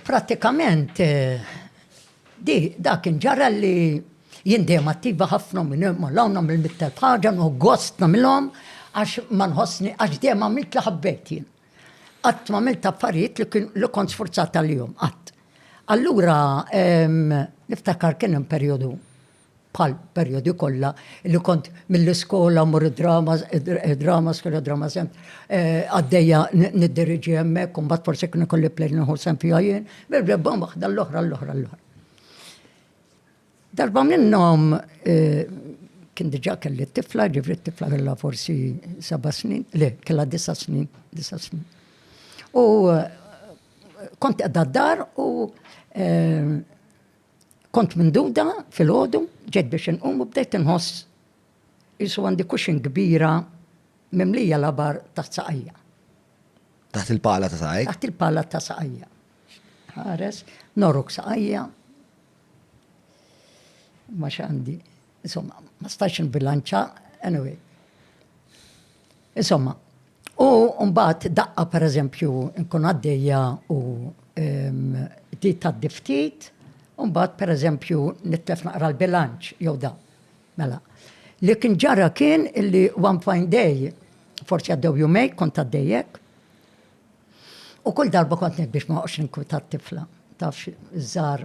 Prattikament di dak inġara li jien dejjem attiva ħafna minn hemm għal hawn nagħmel mittel ħaġa nħu gost nagħmilhom għax ma nħossni għax dejjem għamilt li ħabbejt jien. Qatt m'għamilt affarijiet li kien li kont sfurzat għalihom qatt. Allura niftakar kien hemm perjodu bħal perjodi kollha li kont mill-iskola mmur id-dramas, id-dramas kien id-drama sem għaddejja niddiriġi hemmhekk u mbagħad forsi kien ikolli plej nieħu sem fiha jien, bil-rebba waħda l-oħra l-oħra l-oħra. Darba minnhom kien diġà kelli t-tifla, ġifri t-tifla kellha forsi seba' snin, le, kellha disa' snin, disa' snin. U kont qiegħda d-dar u Kont minduda filgħodu, ġejt biex inqum u bdejt inħoss qisu għandi cushion kbira mimlija labar taħt saqajja. Taħt il-pala ta' saqajk? Taħt il-pala ta' saqajja. Ħares, norok saqajja. Ma x'għandi. Insomma, ma stax nbilanċa, anyway. Insomma, u mbagħad daqqa per eżempju nkun għaddejja u di ta' diftit, u mbagħad per eżempju nitlef naqra l-bilanċ jew da. Mela, li kien ġara kien illi one fine day, forsi għaddew jumej, kont għaddejjek, u kull darba kont biex ma' oqx nkwitat tifla, taf, żar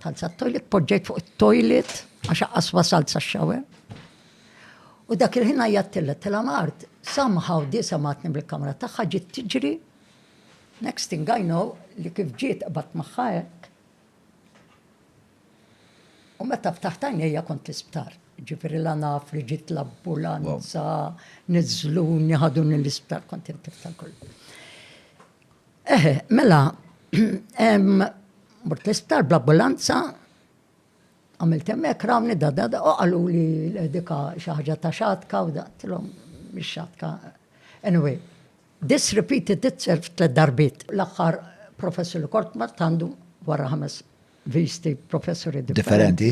Tant sa toilet poġġejt fuq it-toilet għax aqqas wasalt sa xawe. U dak il-ħin għajjattilla tela mart, somehow di samatni mill-kamra tagħha ġiet tiġri. Next thing I know li kif ġiet qbad magħha hekk. U meta ftaħt għajnejja kont l-isptar. Ġifieri la naf li ġiet l-ambulanza, niżluni, ħaduni l-isptar, kont intif tal-kollu. Eħe, mela, mort l-isptar bl-ambulanza, għamilt hemmhekk rawni da da da, u qalu li dika xi ħaġa ta' xatka u da, tilhom mhix xatka. Anyway, this repeated itself tliet darbiet. L-aħħar professur li kort mort għandu wara ħames visti professuri differenti.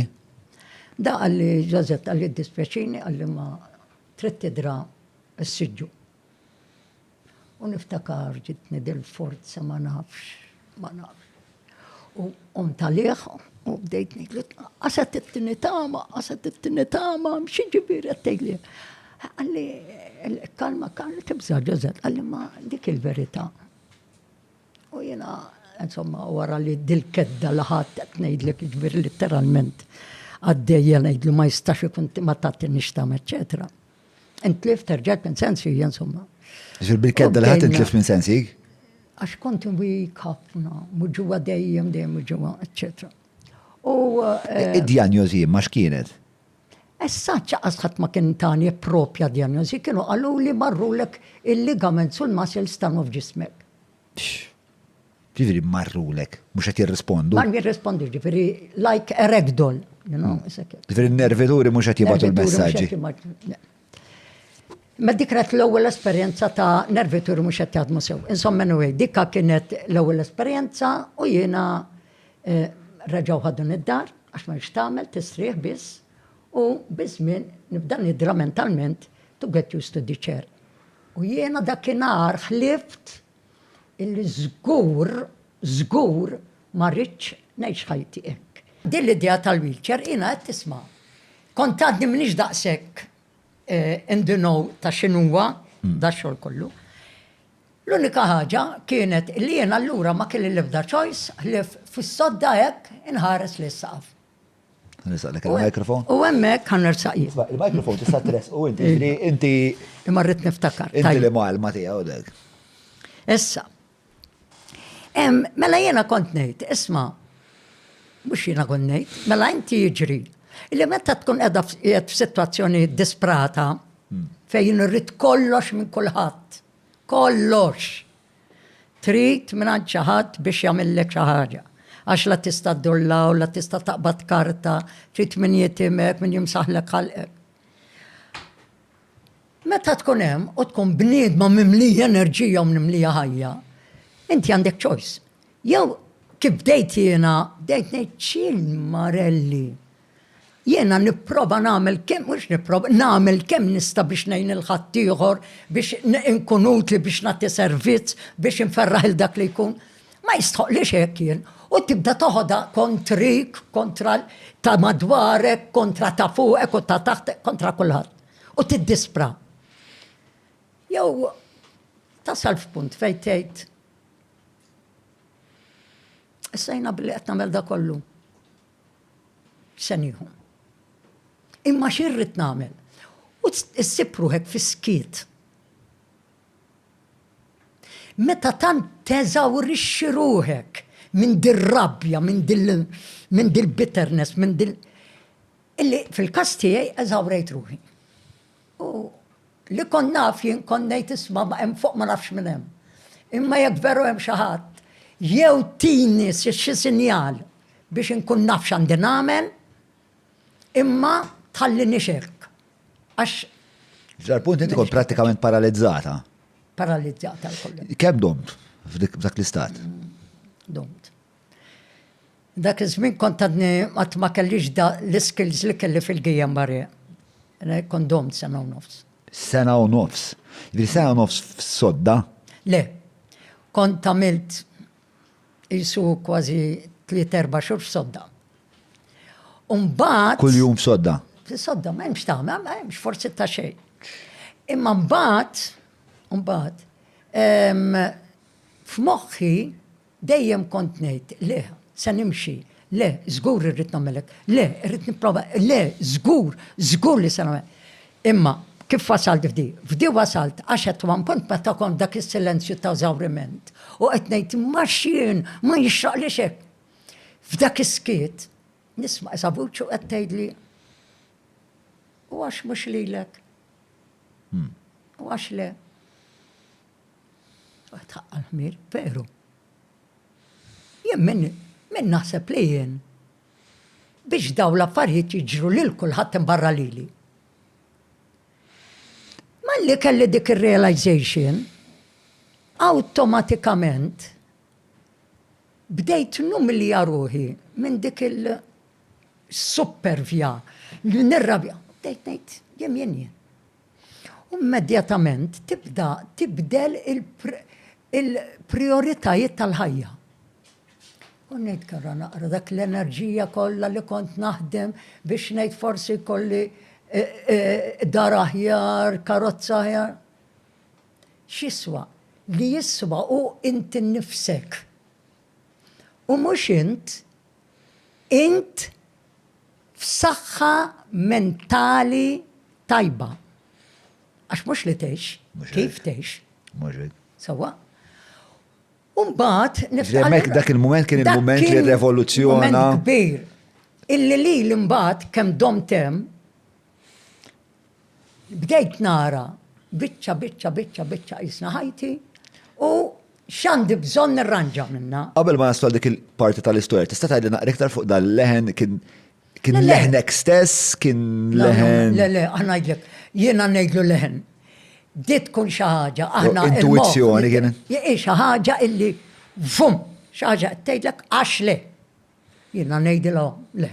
Da għalli Joseph għalli dispjaċini għalli ma trid tidra s-siġġu. U niftakar ġitni dil-forza ma nafx, ma nafx. U qomt għalih u bdejt ngħidlu qaset it-tieni tama, qaset it-tieni tama, xi ġifieri qed tgħidli. Għalli kalma kalma tibża' Ġużepp, għalli ma dik il-verità. U jiena insomma, wara li dil-kedda li ħadd qed ngħidlek ġbir literalment għaddejja ngħidlu ma jistax ikun ma tagħtinix tam, eċċetera. Intlift, terġet minn sensi, insomma. Ġil bil-kedda li ħat intlift minn sensi? Għax kont wik ħafna, muġuwa dejjem, dejjem muġuwa, etc. U. Eh, Id-diagnosi ma x'kienet? Essa ċaqas ħadd ma kien tani propja diagnosi, kienu għallu li marrulek il-ligament sul-muscles tanu f'ġismek. Ġifiri marrulek, mux għet jirrispondu. Mar jirrispondu, ġifiri, like a ragdoll. Hmm. Ġifiri nervituri mux għet jibatu l-messagġi. Ma dik kienet l-ewwel esperjenza ta' nervituri mhux qed jaħdmu sew. Insomma anyway, dikka kienet l-ewwel esperjenza u jiena eh, reġgħu ħadun id-dar għax ma tagħmel tistrieħ biss u biżmien nibda nidra mentalment to get used to the chair. U jiena dakinhar ħlift illi żgur, żgur ma rridx ngħix ħajti hekk. Din l-idea tal-wheelchair jiena għedt isma'. Kont għadni m'iniex daqshekk in the know ta' x'inhuwa da x-xogħol kollu. L-unika ħaġa kienet illi jiena allura ma kelli l-ebda choice ħlief fis-sodda hekk inħares lejn is-saqaf. Nisaqlek il-mikrofon. U hemmhekk kan nersaq jien. Il-mikrofon tista' tres u inti inti. Imma rrid niftakar. Inti li malma tiegħu dek. Issa. Mela jiena kont ngħid, isma' mhux jiena kont ngħid, mela inti jiġri li meta tkun qiegħda f'sitwazzjoni disprata hmm. fejn irrid kollox minn kulħadd. Kollox. Trid mingħand xi ħadd biex jagħmillek xi ħaġa. Għax la tista' ddur 'l hawn, la tista' taqbad karta, trid min jitimek, min jimsaħlek ħalqek. Meta tkun hemm u tkun bniedma mimlija enerġija u mimlija ħajja, inti għandek choice. Jew kif bdejt jiena, bdejt ngħid x'il marelli. Jiena nipprova nagħmel kemm mhux nipprova, nagħmel kemm nista' biex ngħin lil ħaddieħor, biex inkun utli, biex nagħti servizz, biex inferraħ il dak li jkun. Ma jistħoqlix hekk jien. U tibda toħodha kontrik, kontra ta' madwarek, kontra ta' fuqek u ta' taħtek, kontra kulħadd. U tiddispra. Jew tasal f'punt fejn tgħid Issa jina billi qed nagħmel da kollu. se nieħu. Imma x'irrid nagħmel? U ssib ruħek fis-skiet. Meta tant teżawrixxi ruħek minn dir-rabja, minn dil-bitterness, minn dil- illi fil-każ tiegħi eżawrejt ruħi. U li kont naf jien kont ngħid isma' ma hemm fuq ma nafx minn hemm. Imma jekk veru hemm xi ħadd, jew tini xi sinjal biex inkun naf x'għandi nagħmel, imma tħalli nixirk. Għax. F'dal punt inti kont prattikament paralizzata. Paralizzata l-kollu. Kemm domt f'dak l-istat? Domt. Dak iż-żmien kont għadni qatt ma kellix da l-iskills li kelli fil-Guillain-Barré. Kont domt sena u nofs. Sena u nofs? Jiġifieri sena u nofs f'sodda? Le. Kont għamilt qisu kważi tliet erba' xhur f'sodda. U mbagħad. Kuljum f'sodda? F'sodda, m'hemm x'tagħmel, ma hemmx, forsi ta' xejn. Imma mbagħad, mbagħad, f'moħħi Dejjem kont ngħid, le, se nimxi, le, żgur irrid nagħmel hekk, le, irrid nipprova, le, żgur, żgur li se nagħmel. Imma kif wasalt f'di? F'di wasalt għax at one point meta kont f'dak is-silenzju ta' eżawriment u qed ngħid imma x'jien, ma jixraqlix hekk. F'dak is-skiet nisma' isa' vuċi u qed tgħidli, u għax mhux lilek? U għax le? Għad ħaqqa l-ħmir, veru. Jien minn min naħseb li jien biex daw l-affarijiet jiġru lil kulħadd imbarra lili. Malli kelli dik ir-realization, awtomatikament bdejt numilja ruħi minn dik il-supervja li nirrabja. Bdejt ngħid jien jien jien. U immedjatament tibda tibdel il-prijoritajiet tal-ħajja. U ngħid kara naqra dak l-enerġija kollha li kont naħdem biex ngħid forsi kolli e, e, dar aħjar, karozza aħjar. X'iswa? Li jiswa u inti nifsek. U mhux int, int f'saħħa mentali tajba. Għax mhux li tgħix, kif tgħix. Mhux hekk. Sewwa. U mbagħad niftakar. Dak il-mument kien il-mument li r-revoluzzjona. Kbir. Illi li l-imbagħad kemm dom tem Bdejt nara biċċa biċċa biċċa biċċa qisna ħajti u x'għandi bżonn nirranġa minnha. Qabel ma naslu għal dik il-parti tal-istorja, tista' tgħidli naqra iktar fuq dan l-leħen kien kien leħnek stess, kien leħen. Le, le, ngħidlek, jiena ngħidlu leħen. Di tkun xi ħaġa, aħna. Intuizzjoni kien. Xi ħaġa illi vum, xi ħaġa qed tgħidlek għax le. Jiena ngħidilhom le.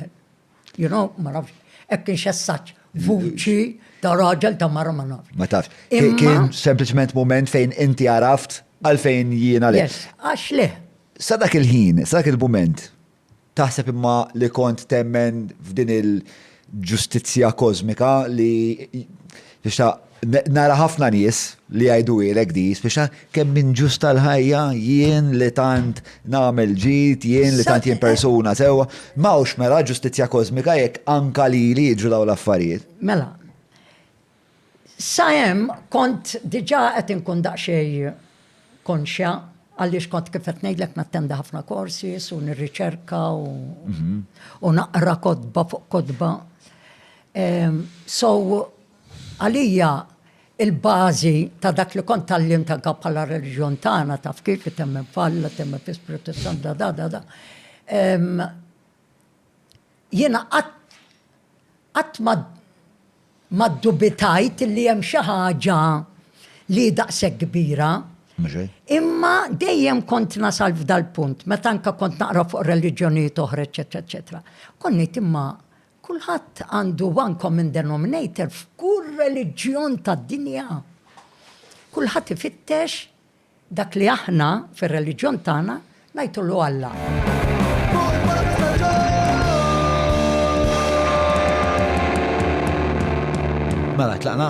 You know, ma nafx, hekk kienx essaġġ vuċi ta' raġel ta' mara ma nafx. Ma tafx. Kien sempliċement mument fejn inti għaraft għalfejn jiena le. Yes, għax le. Sa dak il-ħin, sa dak il-mument, taħseb imma li kont temmen f'din il- ġustizzja kożmika li tixtaq nara ħafna nies li jgħiduhielek di, spiċċa kemm inġust tal-ħajja jien li tant nagħmel ġid, jien li tant jien persuna sewwa. M'hawnx mela ġustizzja kożmika jekk anka lili jiġru dawn l-affarijiet. Mela, Sa hemm kont diġà qed inkun daqsxejn konxja għaliex kont kif qed ngħidlek nattendi ħafna courses u nirriċerka u naqra kotba fuq kotba. So għalija il-bażi ta' dak li kont tgħallimt anke bħala reliġjon tagħna taf kif temmen f'Alla, temmen fl-Ispirtu s-Santu da da da da. Jiena qatt qatt ma ma ddubitajt li hemm xi ħaġa li hi daqshekk kbira. Imma dejjem kont nasal f'dal-punt, meta anke kont naqra fuq reliġjonijiet oħra, eċċetera, eċċetera, kont ngħid imma kulħadd għandu one common denominator f'kull reliġjon tad-dinja. Kulħadd ifittex Dak li aħna, fir-reliġjon tagħna, ngħidulu Alla. Mela, tlaqna.